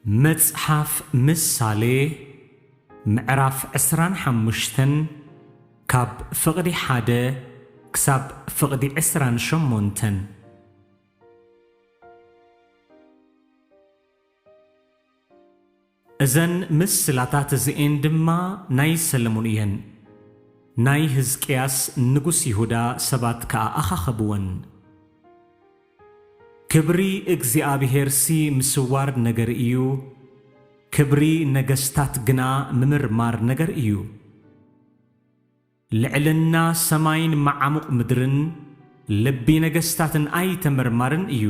መጽሓፍ ምሳሌ ምዕራፍ ዕስራን ሓሙሽተን ካብ ፍቕዲ ሓደ ክሳብ ፍቕዲ ዕስራን ሸሞንተን እዘን ምስላታት እዚኤን ድማ ናይ ሰለሙን እየን። ናይ ህዝቅያስ ንጉስ ይሁዳ ሰባት ከኣ ኣኻኸብወን። ክብሪ እግዚኣብሄርሲ ምስዋር ነገር እዩ፣ ክብሪ ነገስታት ግና ምምርማር ነገር እዩ። ልዕልና ሰማይን መዓሙቕ ምድርን ልቢ ነገስታትን ኣይተመርማርን እዩ።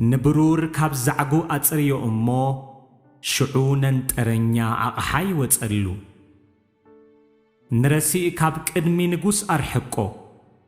ንብሩር ካብ ዛዕጉ ኣጽርዮ እሞ ሽዑ ነንጠረኛ ኣቕሓ ይወጸሉ። ንረሲእ ካብ ቅድሚ ንጉስ ኣርሕቆ።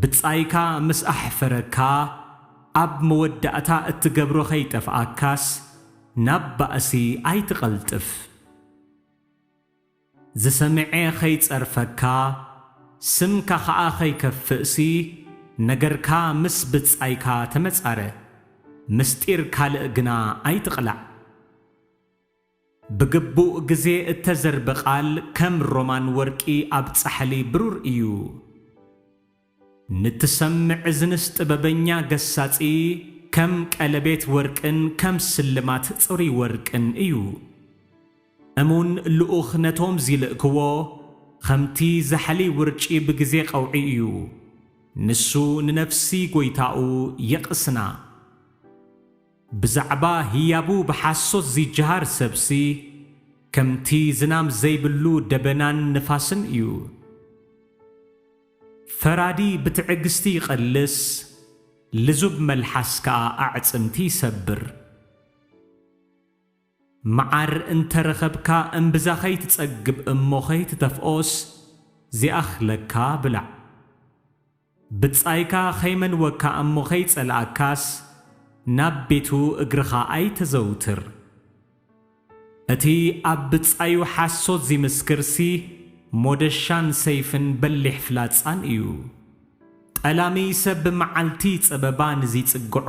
ብጻይካ ምስ ኣሕፈረካ ኣብ መወዳእታ እትገብሮ ከይጠፍኣካስ ናብ ባእሲ ኣይትቐልጥፍ። ዝሰምዔ ከይጸርፈካ ስምካ ከኣ ከይከፍእሲ ነገርካ ምስ ብጻይካ ተመጻረ፣ ምስጢር ካልእ ግና ኣይትቕላዕ። ብግቡእ ግዜ እተዘርበ ቓል ከም ሮማን ወርቂ ኣብ ጻሕሊ ብሩር እዩ። ንትሰምዕ እዝንስ ጥበበኛ ገሳጺ ከም ቀለቤት ወርቅን ከም ስልማት ጽሩይ ወርቅን እዩ። እሙን ልኡኽ ነቶም ዚልእክዎ ኸምቲ ዛሕሊ ውርጪ ብግዜ ቐውዒ እዩ። ንሱ ንነፍሲ ጐይታኡ የቕስና። ብዛዕባ ህያቡ ብሓሶት ዚጀሃር ሰብሲ፣ ከምቲ ዝናም ዘይብሉ ደበናን ንፋስን እዩ። ፈራዲ ብትዕግስቲ ይቐልስ፣ ልዙብ መልሓስ ከኣ ኣዕጽምቲ ይሰብር። መዓር እንተ ረኸብካ እምብዛ ከይትጸግብ እሞ ከይትተፍኦስ ዚኣኽለካ ብላዕ። ብጻይካ ከይመንወካ እሞ ከይጸልኣካስ ናብ ቤቱ እግርኻ ኣይተዘውትር። እቲ ኣብ ብጻዩ ሓሶት ዚምስክርሲ ሞደሻን ሰይፍን በሊሕ ፍላጻን እዩ። ጠላሚ ሰብ ብመዓልቲ ጸበባ ንዚጽግዖ፣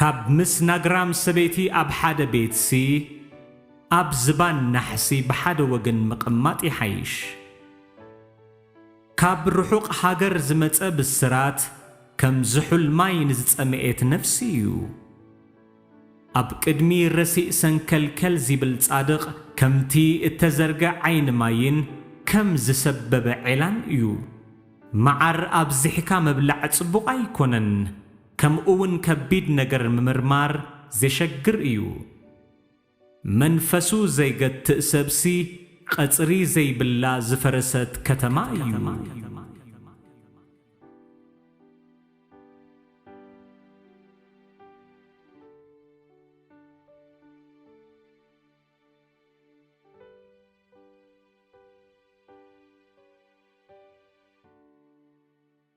ካብ ምስ ናግራም ሰበይቲ ኣብ ሓደ ቤትሲ ኣብ ዝባን ናሕሲ ብሓደ ወገን ምቕማጥ ይሓይሽ። ካብ ርሑቕ ሃገር ዝመጸ ብስራት ከም ዝሑል ማይ ንዝጸመኤት ነፍሲ እዩ። ኣብ ቅድሚ ረሲእ ሰንከልከል ዚብል ጻድቕ ከምቲ እተዘርገ ዓይኒ ማይን ከም ዝሰበበ ዔላን እዩ። መዓር ኣብዚሕካ ምብላዕ ጽቡቕ ኣይኮነን። ከምኡ ውን ከቢድ ነገር ምምርማር ዜሸግር እዩ። መንፈሱ ዘይገትእ ሰብሲ ቐጽሪ ዘይብላ ዝፈረሰት ከተማ እዩ።